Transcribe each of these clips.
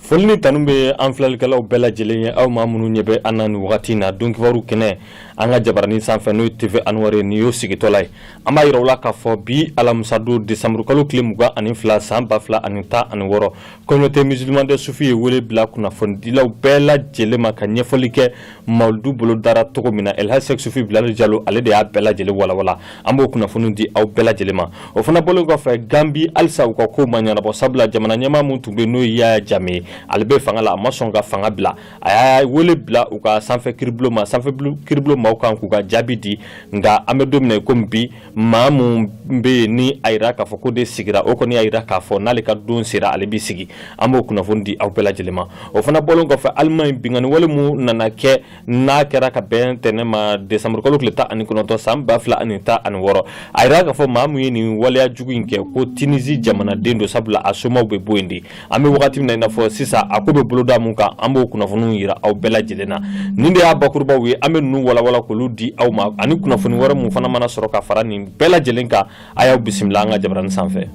Foli ni tanu bɛ an filɛlikɛlaw bɛɛ lajɛlen ye aw maa minnu ɲɛ bɛ an na nin wagati in na don kibaru kɛnɛ an ka jabaranin sanfɛ n'o ye TV Anwar nin y'o sigitɔla ye an b'a jira aw la k'a fɔ bi alamisadon desanburukalo tile mugan ani fila san ba fila ani tan ani wɔɔrɔ communauté musulmane des soufis ye wele bila kunnafonidilaw bɛɛ lajɛlen ma ka ɲɛfɔli kɛ mawuludu bolo dara cogo min na elhaji sɛki sufi bilali jalo ale de y'a bɛɛ lajɛlen walawala an b'o kunnafoni di aw bɛɛ lajɛlen ma o fana bɔlen kɔfɛ gambi halisa u ka ko ma ɲɛnabɔ sabula jamana ɲɛmaa min tun bɛ n'o ye yaya jame ye ale bɛ fanga la a ma sɔn ka fanga bila a y'a wele bila u ka sanfɛ kiribulon ma sanfɛ kiribulon maaw kan k'u ka jaabi di nka an bɛ don min na i komi bi maa min bɛ yen ni a jira k'a fɔ k'o de sigira o kɔni y'a jira k'a fɔ n'ale ka don sera ale bɛ sigi an b'o kunnafoni di aw bɛɛ lajɛlen ma o fana bɔlen kɔfɛ Allemagne binkanni wale min nana kɛ n'a kɛra ka bɛn ntɛnɛn ma décembre kalo tile tan ani kɔnɔntɔn san ba fila ani tan ani wɔɔrɔ a jira k'a fɔ maa min ye nin waleya jugu in kɛ ko Tunisie jamanaden don sabula a somaw bɛ bɔ yen de an bɛ wagati min na i n'a fɔ sisan a ko bɛ boloda min kan an b'o kunnafoniw jira aw bɛɛ lajɛlen na nin de y'a bakurubaw ye an bɛ ninnu walawala k'olu di aw ma ani kunnafoni wɛrɛ min fana mana sɔrɔ ka fara nin bɛɛ lajɛlen kan a y'aw bisimila an ka jabarani sanfɛ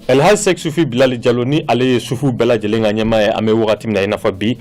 Elhaj Sek Sufi Bilali Jalo ni ale ye sufi bɛɛ lajɛlen ka ɲɛmaa ye an bɛ wagati min na i n'a fɔ bi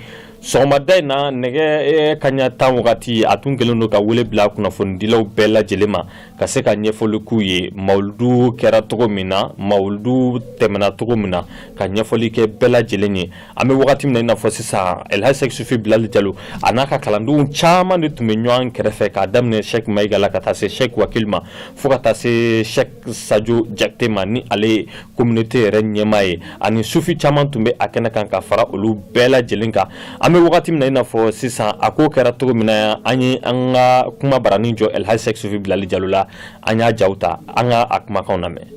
sɔgɔmada in na nɛgɛ eh, kaɲa tan wagati a tun kɛlen don ka wele bila kunnafonidilaw bɛɛ lajɛlen ma ka se ka ɲɛfɔli k'u ye mawuludu kɛra cogo min na mawuludu tɛmɛna cogo min na ka ɲɛfɔli kɛ bɛɛ lajɛlen ye an bɛ wagati min na i n'a fɔ sisan elhaji sɛki sufi bilali jalo a n'a ka kalandenw caman de tun bɛ ɲɔgɔn kɛrɛfɛ k'a daminɛ sɛki mayiga la ka taa se sɛki wakili ma fo ka taa se sɛki sajo jakite ma ni ale ye communauté yɛrɛ ɲɛmaa ye ani sufi caman tun bɛ a kɛnɛ kan ka fara olu bɛɛ lajɛlen kan an bɛ wagati min na i n'a fɔ sisan a ko kɛra cogo min na an ye an ka kuma barani jɔ elhaji sek sufi bilali jalo la an y'a jaw ta an ka a kumakanw lamɛn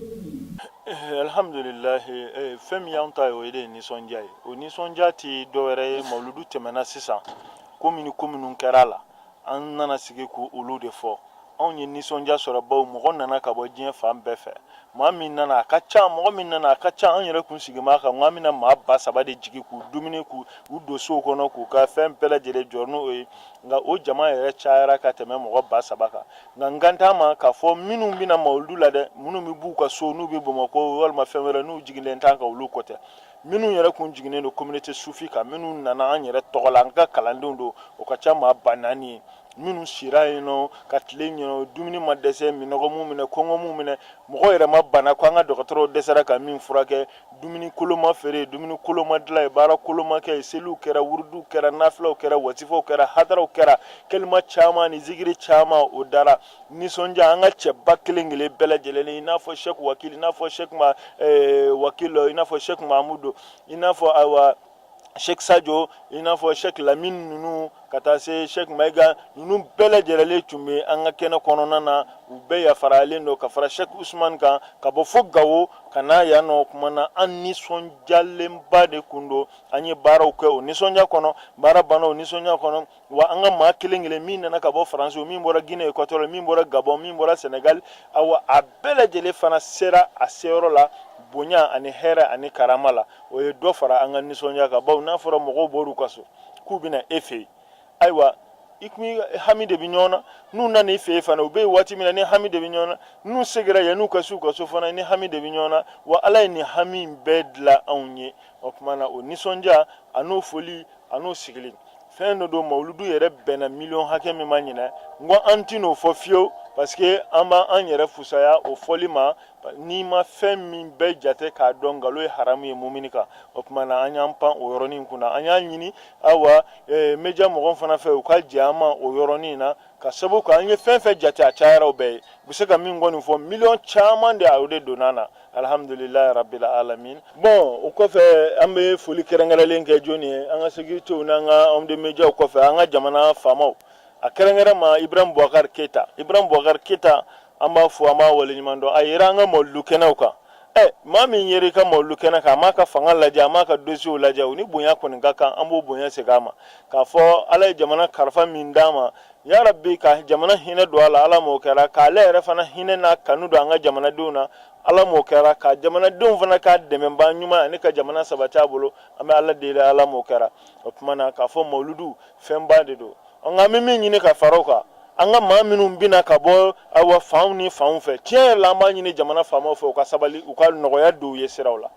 eh, alhamdulilahi eh, fɛn min y'an ta ye o ye de nisɔndiya ye o nisɔndiya tɛ dɔwɛrɛ ye mawuludu tɛmɛna sisan ko minnu ko minnu kɛra a la an nana sigi k'olu de fɔ anw ye nisɔndiya sɔrɔ bawo mɔgɔ nana ka bɔ diɲɛ fan bɛɛ fɛ maa min nana a ka ca mɔgɔ min nana a ka ca an yɛrɛ kun sigi maa kan nka min na maa ba saba de jigin k'u dumuni k'u don sow kɔnɔ k'u ka fɛn bɛɛ lajɛlen jɔ n'o ye nka o jama yɛrɛ cayara ka tɛmɛ mɔgɔ ba saba kan nka n kan t'a ma k'a fɔ minnu bɛ na mawuludu la dɛ minnu bɛ b'u ka so n'u bɛ bamakɔ walima fɛn wɛrɛ n'u jiginlen t'an kan olu ko tɛ minnu yɛrɛ kun jiginnen don communauté sufi kan minnu nana an yɛrɛ tɔgɔ la an ka kalandenw don o ka ca maa ba naani ye minnu sira yen nɔ ka tilen yen nɔ dumuni ma dɛsɛ minnɔgɔ m'u minɛ kɔngɔ m'u minɛ mɔgɔ yɛrɛ ma bana ko an ka dɔgɔtɔrɔw dɛsɛra ka min furakɛ dumuni kolon ma feere dumuni kolon ma dilan yen baara kolon ma kɛ seliw kɛra wuruduw kɛra nafilaw kɛra wasifaw kɛra hadaraw kɛra kelima caman ni zikiri caman o dara nisɔndiya an ka cɛba kelen kelen bɛɛ lajɛlen i n'a fɔ sɛki wakili i n'a fɔ sɛki ma eh, wakilɔ i n'a fɔ sɛki mamudu i n'a fɔ ayiwa sɛki sajo i n'a fɔ sɛki lamini ninnu ka taa se sɛki mayiga ninnu bɛɛ lajɛlenlen tun bɛ an ka kɛnɛ kɔnɔna na u bɛɛ yafarayalen don ka fara sɛki usumani kan ka bɔ fo gawo ka na yan o kuma na an nisɔndiyalenba de kun don an ye baaraw kɛ o nisɔndiya kɔnɔ baara banna o nisɔndiya kɔnɔ wa an ka maa kelen kelen min nana ka bɔ faransi min bɔra guinée équatoriale min bɔra gabɔn min bɔra senegal awa a bɛɛ lajɛlen fana sera a seyɔrɔ la bonya ani hɛrɛ ani karama la o ye dɔ fara an ka nisɔndiya kan bawo n'a fɔra mɔgɔw bɔr'u ka so k'u bɛ na e fɛ yen ayiwa i kun hami de bɛ ɲɔgɔn na n'u nana i fɛ yen fana u bɛ yen waati min na i ni hami de bɛ ɲɔgɔn na n'u segira yan'u ka se u ka so fana i ni hami de bɛ ɲɔgɔn na wa ala ye nin hami in bɛɛ dilan anw ye o tuma na o nisɔndiya a n'o foli a n'o sigili fɛn de don mawuludu yɛrɛ bɛnna miliyɔn hakɛ min ma ɲinan n ko an tɛn'o fɔ fiyewu parce que an b'an yɛrɛ fusaya o fɔli ma n'i ma fɛn min bɛɛ jate k'a dɔn nkalon ye haramu ye mumini kan o kuma na an y'an pan o yɔrɔnin kunna an y'a ɲini awa eh, media mɔgɔw fana fɛ u ka jɛn an ma o yɔrɔnin na k'a sabu kɛ an ye fɛn fɛn jate a cayara o bɛɛ ye u bɛ se ka min kɔni fɔ miliyɔn caman de a o de donna an na alhamdulilayi rabil alamin bon o kɔfɛ an bɛ foli kɛrɛnkɛrɛnlen kɛ jɔni ye an ka sekiritew n'an ka homme de mediaw kɔfɛ an ka jamana faamaw a kɛrɛnkɛrɛn ma ibrahim bubakari keyita ibrahim bubakari keyita an b'a fo an b'a waleɲuman dɔn a yera an ka mawuludu kɛnɛw kan ɛ maa min yer'i ka mawuludu kɛnɛ kan a m'a ka fanga lajɛ a m'a ka dosiyew lajɛ o ni bonya kɔni ka kan an b'o bonya segin a ma k'a fɔ ala ye jamana kalifa min d'a ma ya rabbi ka jamana hinɛ don a la ala m'o kɛra k'ale yɛrɛ fana hinɛ n'a kanu don an ka jamanadenw na ala m'o kɛra ka jamanadenw fana k'a dɛmɛbaa ɲuman ani ka jamana sabati a bolo an bɛ ala deli ala m'o kɛra o kuma na k'a fɔ mawuludu fɛnba de don nka an bɛ min ɲini ka fara o kan an ka maa minnu bɛ na ka bɔ awa fanw ni fanw fɛ tiɲɛ yɛrɛ la an b'a ɲini jamana faamaw fɛ u ka sabali u ka nɔgɔya don u ye siraw la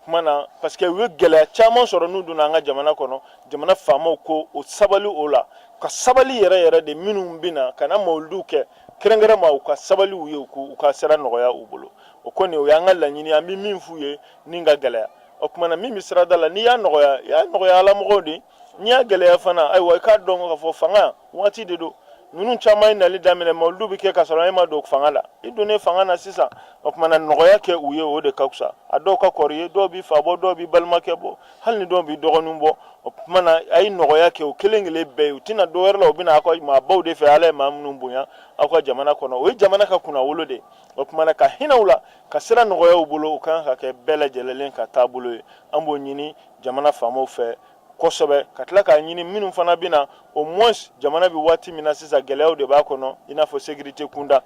kuma na parce que u ye gɛlɛya caman sɔrɔ n'u donna an ka jamana kɔnɔ jamana faamaw ko o sabali o la u ka sabali yɛrɛ yɛrɛ de minnu bɛ na ka na mawuludu kɛ kɛrɛnkɛrɛn ma u ka sabali u ye u ka sira nɔgɔya u bolo o kɔni o y'an ka laɲini ye an bɛ min f'u ye ni ka gɛlɛya o kuma na min bɛ sirada la n'i y'a nɔgɔya i y'a nɔgɔya ala mɔgɔw de n'i y'a gɛlɛya fana ayiwa i k'a dɔn k'a fɔ fanga waati de don ninnu caman ye nali daminɛ mawuludu bɛ kɛ ka sɔrɔ e ma don fanga la i donnen fanga na sisan o kuma na nɔgɔya kɛ u ye o de ka fisa a dɔw ka kɔrɔ i ye dɔw b'i fa bɔ dɔw b'i balimakɛ bɔ hali ni dɔw b'i dɔgɔnin bɔ o kuma na a ye nɔgɔya kɛ u kelen kelen bɛɛ ye u tɛ na dɔ wɛrɛ la u bɛ na aw ka maabaw de fɛ ala ye maa minnu bonya aw ka jamana kɔnɔ o ye jamana ka kunnawolo de o kuma na ka hinɛ u la ka sira nɔgɔya u bolo o kan ka kɛ bɛɛ lajɛlenlen ka taabolo ye an b'o ɲini jamana faamaw fɛ kosɛbɛ ka tila k'a ɲini minnu fana bɛ na au moins jamana bɛ waati min na sisan gɛlɛyaw de b'a kɔnɔ i n'a fɔ sécurité kunda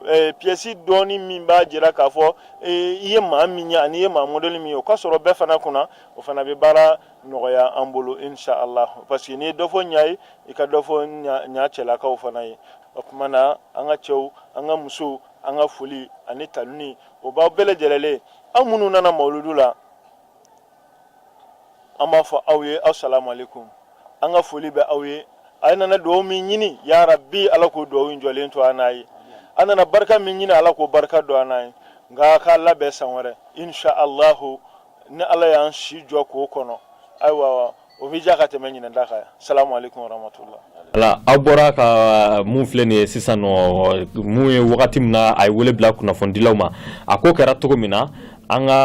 eh, pièce dɔɔni min b'a jira k'a fɔ eh, i ye maa min ye ani i ye maa modèle min ye o ka sɔrɔ bɛɛ fana kunna o fana bɛ baara nɔgɔya an bolo inshallah parce que n'i ye dɔ fɔ ɲa ye i ka dɔ fɔ ɲa cɛlakaw fana ye o tuma na an ka cɛw an ka musow an ka foli ani tanuni o b'aw bɛɛ lajɛlenlen aw minnu nana mawuludu la an b'a fɔ aw ye asalamu aleykum an ka foli bɛ aw ye aw nana dugawu min ɲini ya rabi ala k'o dugawu in jɔlen to an n'a ye an nana barika min ɲini ala k'o barika don an n'a ye nka k'a labɛn san wɛrɛ insha allahu ni ala y'an si jɔ k'o kɔnɔ ayiwa o bɛ diya ka tɛmɛ ɲinan ta kan salamu aleykum warahmatula ala aw bɔra ka uh, mun filɛ nin ye sisan nɔ mun ye wagati min na a ye wele bila kunnafonidilaw ma a ko kɛra cogo min na an ka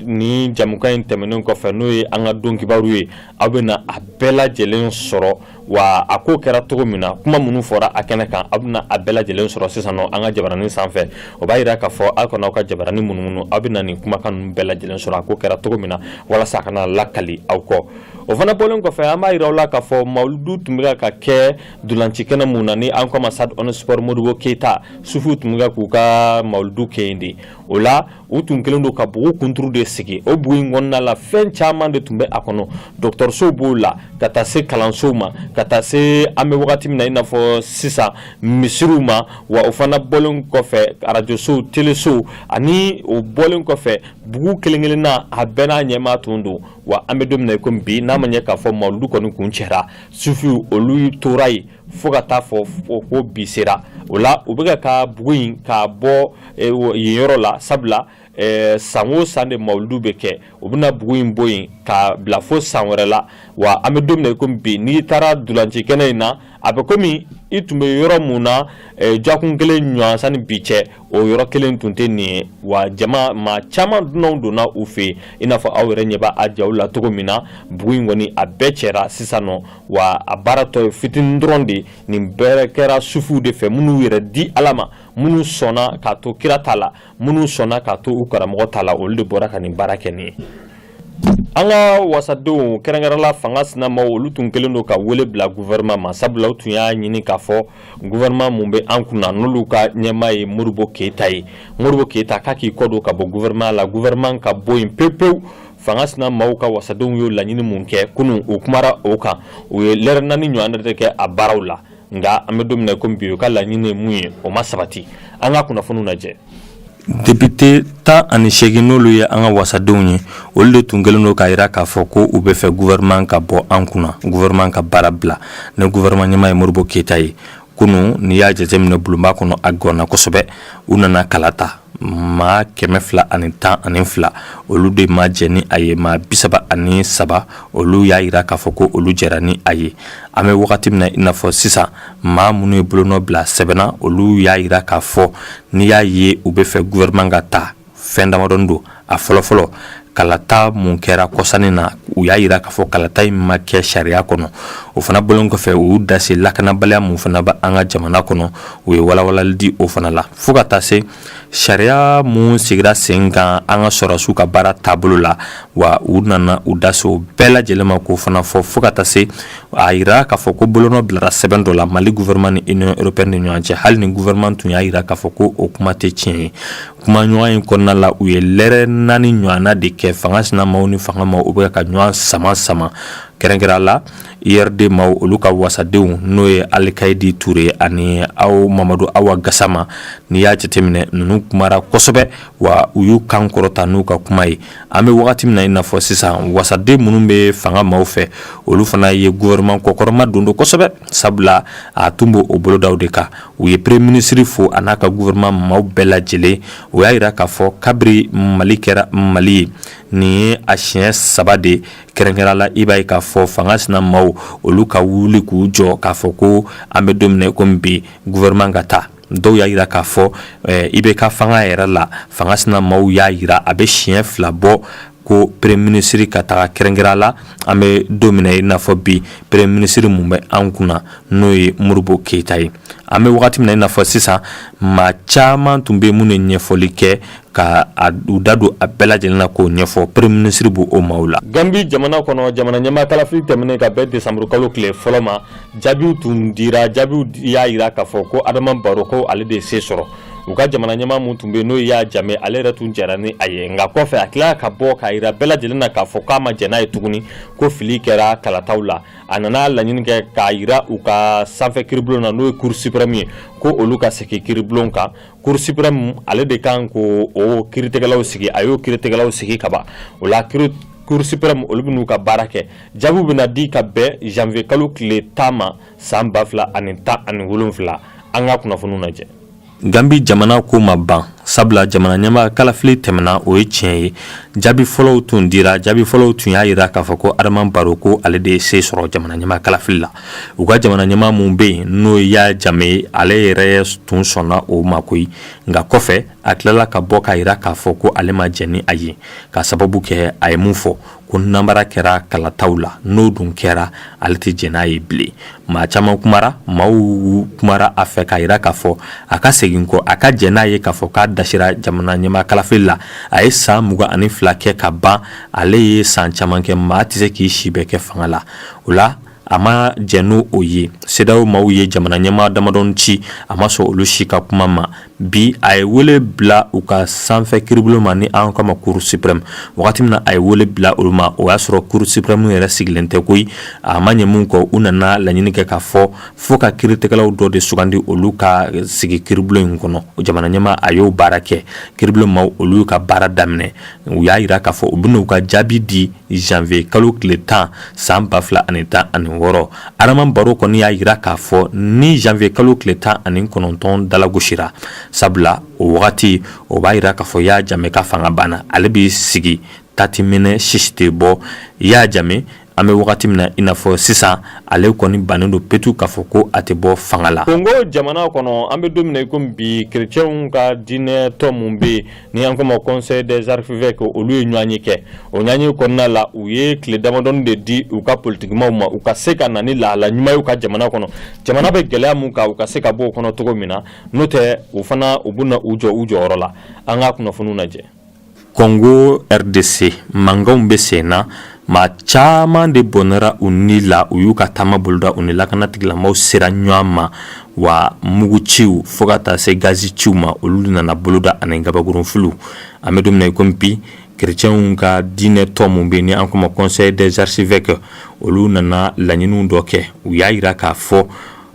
nin jamukan in tɛmɛnen kɔfɛ n'o ye an ka don kibaru ye aw bɛ na a bɛɛ lajɛlen sɔrɔ wa a ko kɛra cogo min na kuma minnu fɔra a kɛnɛ kan aw bɛna a bɛɛ lajɛlen sɔrɔ sisan nɔ an ka jabaranin sanfɛ o b'a jira k'a fɔ aw kana aw ka jabaranin munumunu aw bɛna nin kumakan ninnu bɛɛ lajɛlen sɔrɔ a ko kɛra cogo min na walasa a kana lakali aw kɔ o fana bɔlen kɔfɛ an b'a jira aw la k'a fɔ mawuludu tun bɛ ka kɛ ntolaci kɛnɛ mun na ni an k'o ma stade omnisports modibo keyita sufuw tun bɛ k'u ka mawuludu kɛ yen de o la u tun kɛlen don ka bugu kunturu de sigi o bugu in kɔnɔna la fɛn caman de tun bɛ a kɔnɔ dɔgɔtɔrɔsow b'o la ka taa se kalansow ma ka taa se an bɛ wagati min na i n'a fɔ sisan misiriw ma wa o fana bɔlen kɔfɛ arajosow telesow ani o bɔlen kɔfɛ bugu kelen kelenna a bɛɛ n'a ɲɛmaa tun don wa an bɛ don min na i komi bi n'a ma ɲɛ k'a fɔ mawuludu kɔni kuncɛra sufiw olu tora yen fo ka taa fɔ ko bi sera o la u bɛ ka bugu in k'a bɔ eh, yen yɔrɔ la sabula eh, san o san de mawuludu bɛ kɛ u bɛna bugu in bɔ yen k'a bila fo san wɛrɛ la wa an bɛ don min na komi bi n'i taara ntolaci kɛnɛ in na a bɛ komi i tun bɛ yɔrɔ mun na eh, dɔgɔkun kelen ɲɔgɔn sanni bi cɛ o yɔrɔ kelen tun tɛ nin ye wa jama maa caman dunanw donna u fɛ yen i n'a fɔ aw yɛrɛ ɲɛ b'a jaw la cogo min na bugu in kɔni a bɛɛ cɛra sisan nɔ wa a baara tɔ ye fitinin dɔrɔn de nin bɛɛ kɛra sufuw de fɛ minnu yɛrɛ di ala ma minnu sɔnna k'a to kira ta la minnu sɔnna k'a to u karamɔgɔ ta la olu de bɔra ka nin baara kɛ nin ye an ka wasadenw kɛrɛnkɛrɛnla fanga sinamaw olu tun kɛlen don ka wele bila gouvernement ma sabula u tun y'a ɲini k'a fɔ gouvernement mun bɛ an kunna n'olu ka ɲɛmaa ye modibo keyita ye modibo keyita k'a k'i kɔdon ka bɔ gouvernement la gouvernement ka bɔ yen pewu pewu fanga sinamaw ka wasadenw y'o laɲini mun kɛ kunu u kumara o kan u ye lɛrɛ naani ɲɔgɔn de kɛ a baaraw la nka an bɛ don min na komi bi u ka laɲini ye mun ye o ma sabati an ka kunnafoniw lajɛ Depite tan ani segin n'olu ye an ka wasadenw ye olu de tun kɛlen don k'a jira k'a fɔ ko u bɛ fɛ gouvernement ka bɔ an kunna gouvernement ka baara bila ni gouvernement ɲɛmaa ye Modibo Keyita ye kunun n'i y'a jateminɛ bulonba kɔnɔ a ganna kosɛbɛ u nana kala ta maa kɛmɛ fila ani tan ani fila olu de ma jɛ ni a ye maa bi saba ani saba olu y'a jira k'a fɔ ko olu jɛra ni a ye an bɛ wagati min na i n'a fɔ sisan maa minnu ye bolonɔ bila sɛbɛn na olu y'a jira k'a fɔ n'i y'a ye u bɛ fɛ gouvernement ka taa fɛn damadɔni don a fɔlɔfɔlɔ kalata mun kɛra kɔsa in na u y'a jira k'a fɔ kalata in ma kɛ sariya kɔnɔ o fana bɔlen kɔfɛ u y'u da se lakanabaliya mun fana bɛ an ka jamana kɔnɔ u ye walawalali di o fana la fo ka taa se sariya minnu sigira sen kan an ka sɔrɔsiw ka baara taabolo la wa u nana u da se o bɛɛ lajɛlen ma k'o fana fɔ fo ka taa se a yira k'a fɔ ko bolonɔ bilara sɛbɛn dɔ la mali gouvernement ni union européenne ni ɲɔgɔn cɛ hali ni gouvernement tun y'a yira k'a fɔ ko o kuma tɛ tiɲɛ ye kumaɲɔgɔnya kɔnɔna la u ye lɛrɛ naani ɲɔgɔnna de kɛ fanga sinamaw ni fanga maaw bɛ ka ɲɔgɔn sama sama kɛrɛnkɛrɛnnenya la URD maaw olu ka wasadenw n'o ye Alikayidi Ture ani aw Mamadu Awa Gasama n'i y'a jateminɛ ninnu kumara kosɛbɛ wa u y'u kan kɔrɔta n'u ka kuma ye an bɛ wagati min na i n'a fɔ sisan wasaden minnu bɛ fanga maaw fɛ olu fana ye gouvernement kɔkɔrɔma don kosɛbɛ sabula a tun b'o bolodaw de kan u ye premier ministre fo a n'a ka gouvernement maaw bɛɛ lajɛlen o y'a jira k'a fɔ kabiri mali kɛra mali ye nin ye a siɲɛ saba de ye kɛrɛnkɛrɛnnenya la i b'a ye k'a fɔ fanga sinamaw olu ka wuli k'u jɔ k'a fɔ ko an bɛ don min na komi bi gouvernement ka taa dɔw y'a jira k'a fɔ IBK fanga yɛrɛ la fanga sinamaw y'a jira a bɛ siɲɛ fila bɔ ko premier ministre ka taga kɛrɛnkɛrɛnnenya la an bɛ don min na i n'a fɔ bi premier ministre mun bɛ an kunna n'o ye Modibo Keyita ye an bɛ wagati min na i n'a fɔ sisan maa caman tun bɛ yen minnu ye ɲɛfɔli kɛ ka u da don a bɛɛ lajɛlen na k'o ɲɛfɔ premier ministre b'o maaw la. Gambie jamana kɔnɔ jamana ɲɛmaa kalafili tɛmɛnen ka bɛn décembre kalo tile fɔlɔ ma jaabiw tun dira jaabiw y'a jira k'a fɔ ko Adama Barrow ko ale de ye se sɔrɔ u ka jamana ɲɛmaa min tun bɛ yen n'o ye Yahya Jammeh ale yɛrɛ tun jɛra ni a ye nka kɔfɛ a tilala ka bɔ k'a jira bɛɛ lajɛlen na k'a fɔ k'a ma jɛn n'a ye tuguni ko fili kɛra kalataw la a nana laɲini kɛ k'a jira u ka sanfɛ kiribulon na n'o ye cour suprême ye ko olu ka segin kiribulon kan cour suprême ale de kan k'o kiritigɛlaw sigi a y'o kiritigɛlaw sigi ka ban o la cour suprême olu bɛn'u ka baara kɛ jaabiw bɛna di ka bɛn janvier kalo tile tan ma san ba fila ani tan ani wolonfila an ka kunnafoniw lajɛ Ganbi jamana ko ma ban sabula jamana ɲɛmaa kalafili tɛmɛna o ye tiɲɛ ye jaabi fɔlɔw tun dira jaabi fɔlɔw tun y'a jira k'a fɔ ko adama baro ko ale de ye se sɔrɔ jamana ɲɛmaa kalafili la u ka jamana ɲɛmaa min bɛ yen n'o ye Yaya Jame ye ale yɛrɛ tun sɔnna o ma koyi nka kɔfɛ a tilala ka bɔ k'a jira k'a fɔ ko ale ma jɛn n'a ye k'a sababu kɛ a ye mun fɔ ko nanbara kɛra kalataw la n'o dun kɛra ale tɛ jɛn n'a ye bilen maa caman kumara maaw kumara a fɛ k'a jira k'a fɔ a ka segin kɔ a ka jɛn n'a ye k'a fɔ k'a dasira jamana ɲɛmaa kalafili la a ye san mugan ani fila kɛ ka ban ale ye san caman kɛ maa tɛ se k'i si bɛɛ kɛ fanga la o la a ma jɛn n'o ye CEDEAO maaw ye jamana ɲɛmaa damadɔni ci a ma sɔn olu si ka kuma ma bi a ye wele bila u ka sanfɛ kiiribulon ma ni an k'a ma Cour suprême wagati min na a ye wele bila olu ma o y'a sɔrɔ Cour suprême yɛrɛ sigilen tɛ koyi a ma ɲɛ min kɔ u nana laɲini kɛ k'a fɔ fo ka kiiritigɛlaw dɔ de sugandi olu ka sigi kiiribulon in kɔnɔ jamana ɲɛmaa a y'o baara kɛ kiiribulon maaw olu ka baara daminɛ u y'a jira k'a fɔ u bɛna u ka jaabi di janvier kalo tile tan san ba fila ani tan ani wɔɔrɔ Adama Baro kɔni y'a jira k'a fɔ ni janvier kalo tile tan ani kɔnɔntɔn dalagosira sabula o wagati o b'a jira k'a fɔ Yaya Jame ka fanga banna ale bɛ sigi tati minɛ sisi tɛ bɔ Yaya Jame an bɛ wagati min na i n'a fɔ sisan ale kɔni bannen don petu k'a fɔ ko a tɛ bɔ fanga la kongo jamana kɔnɔ an bɛ don min na i komi bi kerecɛnw ka diinɛ tɔn min bɛ yen ni an k'a ma conseil des archevêques olu ye ɲɔgɔnye kɛ o ɲɔgɔnye kɔnɔna la u ye tile damadɔni de di u ka politikimaw ma u ka se ka na ni lahala ɲuman ye u ka jamana kɔnɔ jamana bɛ gɛlɛya min kan u ka se ka bɔ o kɔnɔ cogo min na n'o tɛ u fana u bɛna u jɔ u jɔyɔrɔ la an ka kunnafoniw lajɛ kongo rdc mankanw bɛ sen na maa caman de bɔnɛra u ni la u y'u ka taama boloda u ni lakana tigilamaaw sera ɲɔgɔn ma wa mugu ciw fo ka taa se gazi ciw ma olu nana boloda ani gabakurunfiliw an bɛ don min na i komi bi kerecɛnw ka diinɛ tɔn min bɛ yen ni an ko ma conseil des archevêques olu nana laɲiniw dɔ kɛ u y'a jira k'a fɔ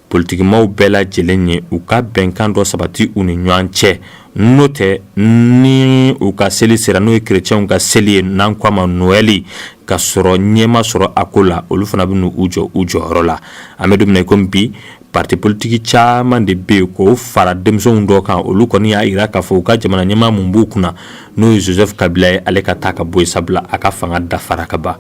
Politikimaw bɛɛ lajɛlen ye u ka bɛnkan dɔ sabati u ni ɲɔgɔn cɛ n'o tɛ ni u ka seli sera n'o ye kerecɛnw ka seli ye n'an ko a ma Noël ka sɔrɔ ɲɛ ma sɔrɔ a ko la olu fana bɛna u jɔ u jɔyɔrɔ la an bɛ don min na komi bi parti politiki caman de bɛ yen k'o fara denmisɛnw dɔ kan olu kɔni y'a jira k'a fɔ u ka jamana ɲɛmaa min b'u kunna n'o ye Joseph Kabila ye ale ka taa ka bɔ yen sabula a ka fanga dafara ka ban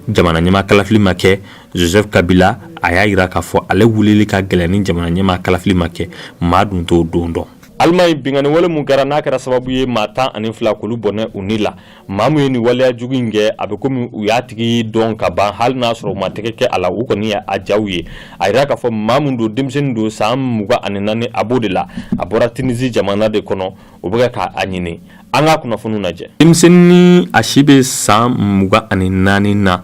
jamana ɲɛmaa kalafili ma kɛ Joseph kabila a y'a yira k'a fɔ ale wulili ka gɛlɛn ni jamana ɲɛmaa kalafili ma kɛ maa dun t'o don dɔn alimaɲi binganiwale min kɛra n'a kɛra sababu ye maa tan ani fila k'olu bɔnɛ u ni la maa min ye nin waleya jugu in kɛ a bɛ komi u y'a tigi dɔn ka ban hali n'a sɔrɔ u ma tɛgɛ kɛ a la u kɔni ye a jaw ye a yira k'a fɔ maa min don denmisɛnnin don san mugan ani naani a b'o de la a bɔra tinisi jamana de kɔnɔ o bɛ ka a ɲini an ka kunnafoniw lajɛ denmisɛnnin a si bɛ san mugan ani naani na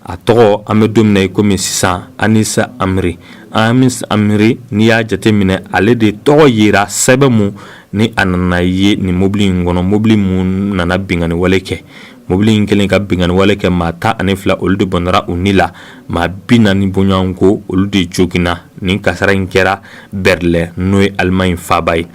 a tɔgɔ an bɛ don min na i komi sisan Anis Amri Anis Amri n'i y'a jateminɛ ale de tɔgɔ yera sɛbɛn min ni a nana ye nin mobili in kɔnɔ mobili min nana binganiwale kɛ mobili in kɛlen ka binganiwale kɛ maa tan ani fila olu de bɔnra u ni la maa bi naani bɔɲɔgɔn ko olu de joginna nin kasara in kɛra Berlin n'o ye alimaɲi faaba ye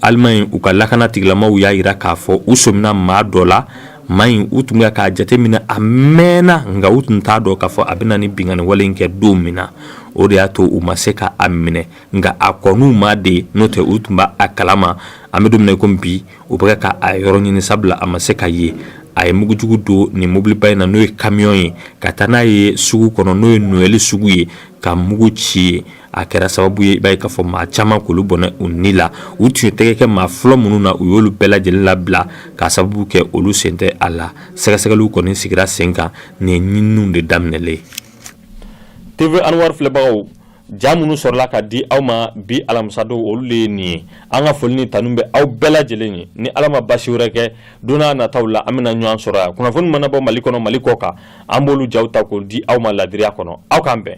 alimaɲi u ka lakana tigilamaw y'a yira k'a fɔ u sɔmina maa dɔ la maa in u tun bɛ k'a jateminɛ a mɛnna nka u tun t'a dɔn k'a fɔ a bɛna ni binganiwale in kɛ don min na o de y'a to u ma se k'a minɛ nka a kɔn'u ma de n'o tɛ u tun b'a kalama an bɛ don min na i ko bi u bɛ ka a yɔrɔ ɲini sabula a ma se ka ye a ye mugujugu don nin mobiliba in na n'o ye kamiyɔn ye ka taa n'a ye sugu kɔnɔ n'o ye nowɛli sugu ye ka mugu ci ye a kɛra sababu ye i b'a ye k'a fɔ maa caman k'olu bɔnɛ u ni la u tun ye tɛgɛ kɛ maa fɔlɔ minnu na u y'olu bɛɛ lajɛlen labila k'a sababu kɛ olu sen tɛ a la sɛgɛsɛgɛliw kɔni sigira sen kan nin ye ɲininiw de daminɛlen ye TV Anwar filɛbagaw ja minnu sɔrɔla ka di aw ma bi alamisadon olu de ye nin ye an ka foli ni tanu bɛ aw bɛɛ lajɛlen ye ni ala ma basi wɛrɛ kɛ don n'a nataw la an bɛna ɲɔgɔn sɔrɔ yan kunnafoni mana bɔ mali kɔnɔ mali kɔ kan an b'olu jaw ta k'o di aw ma ladiriya kɔnɔ aw k'an bɛn